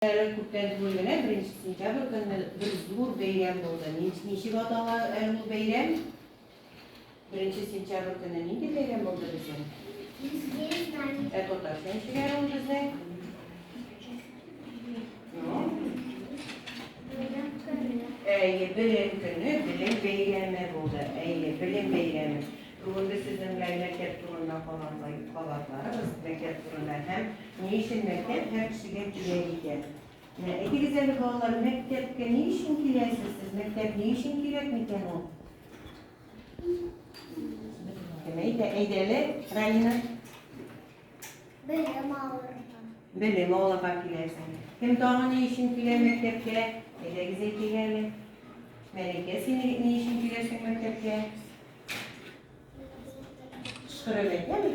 Әле күптән түгел генә, беренче сентябрь көнне бер зур бәйрәм булды. Ничек атала әле ул бәйрәм? Беренче сентябрь көнне нинди бәйрәм булды безнең? Ә татарча ничек ул безнең? Әйе, белем көне, белем бәйрәме булды. Әйе, белем бәйрәме. Бүгенге сезнең белән мәктәп турында калган гайб-халатларыгыз, мәктәп турында һәм ни өчен мәктәп һәр кешегә кирәк икән. Менә әйтегез әле, балалар, мәктәпкә ни өчен киләсез сез? Мәктәп ни өчен кирәк микән ул? Кем әйтә? Әйдә әле, Ралина. Белем алырга. Белем алырга киләсең. Кем тагы ни өчен килә мәктәпкә? Әйдәгез әйтегез әле. Мәликә, син ни өчен киләсең мәктәпкә? Кышкырып әйтәме?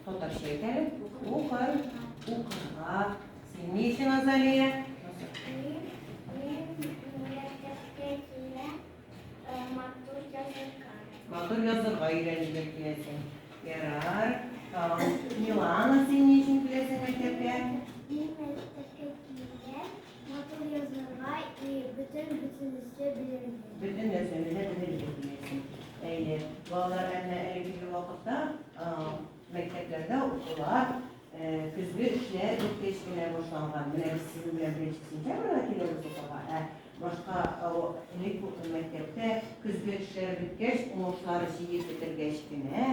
Татарча әйтәме? Укыр, укырга. Син ни өчен Азалия? Матур язырга өйрәнергә киләсең. Ярар. Милана, син ни өчен киләсең мәктәпкә? Матур язарга и бөтен бөтенесе белергә. Бөтен нәрсәне дә белергә диясен. Әйе, балалар әнә әлеге вакытта мәктәпләрдә укулар, көзге эшләр үткәч кенә башланган. Менә без сезнең белән беренче сентябрьгә киләбез укуга, ә башка элек мәктәптә көзге эшләр беткәч, уңышлары җыеп бетергәч кенә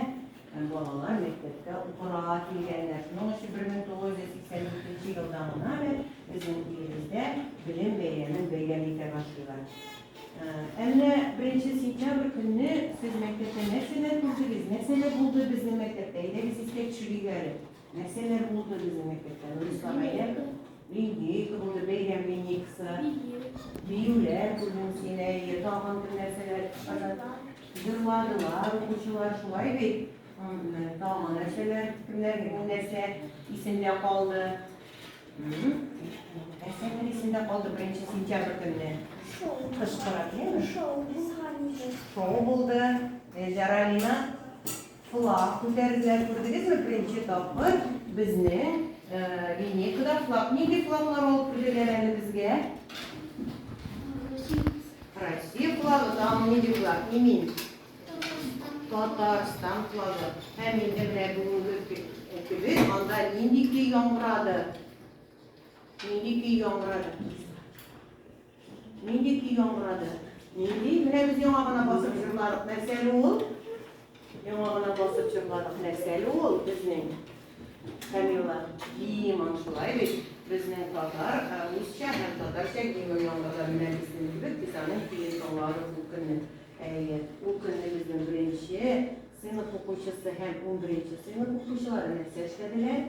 Һәм балалар мәктәпкә укырга килгәннәр. Шуның өчен 1982 елдан гына әле безнең илебездә Белем бәйрәмен бәйрәм итә башлыйлар. Ә менә беренче сентябрь көнне сез мәктәптә нәрсәләр күрдегез, нәрсәләр булды безнең мәктәптә? Әйдәгез искә төшерик әле. Нәрсәләр булды безнең мәктәптә? Нурислам әйдәп, линейка булды, бәйрәм линейкасы, биюләр күрдем син, әйе, тагын бер нәрсәләр чыгарды. Җырладылар укучылар, шулай бит. Тагын нәрсәләр, кемнәрнең нәрсә исендә калды? Нәрсәләр исендә калды беренче сентябрь көнне? Кычкырып, яме? Шоу булды. Шоу булды. Зәралина Флаг күтәрделәр, күрдегезме, беренче тапкыр безнең линейкада флаг. Нинди флаглар алып килделәр әле безгә? Россия флагы, тагын нинди флаг? Имин. Татарстан флагы. Һәм инде менә бүгенге көне анда нинди көй яңгырады? Нинди көй яңгырады? Нинди көй яңгырады? Нинди? Менә без яңа гына басып җырладык. Нәрсәле ул? Яңа гына басып җырладык. Нәрсәле ул безнең? Камила. Гимн шулай бит. Безнең татар, русча һәм татарча гимн яңгырады. Менә безнең кебек без аның көен тыңладык ул көнне. Әйе, ул көнне безнең беренче сыйныф укучысы һәм унберенче сыйныф укучылары нәрсә эшләделәр?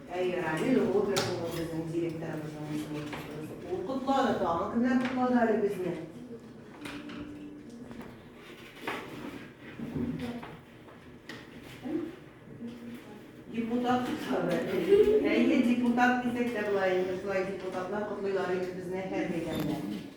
Әйе, Рамил Роберт улы безнең директорыбызның исемен кушыгыз. Ул котлады, тагын кемнәр котлады әле безне? Депутат котлады. Әйе, депутат дисәк тә була инде, шулай депутатлар котлыйлар инде безне һәр мәйданда.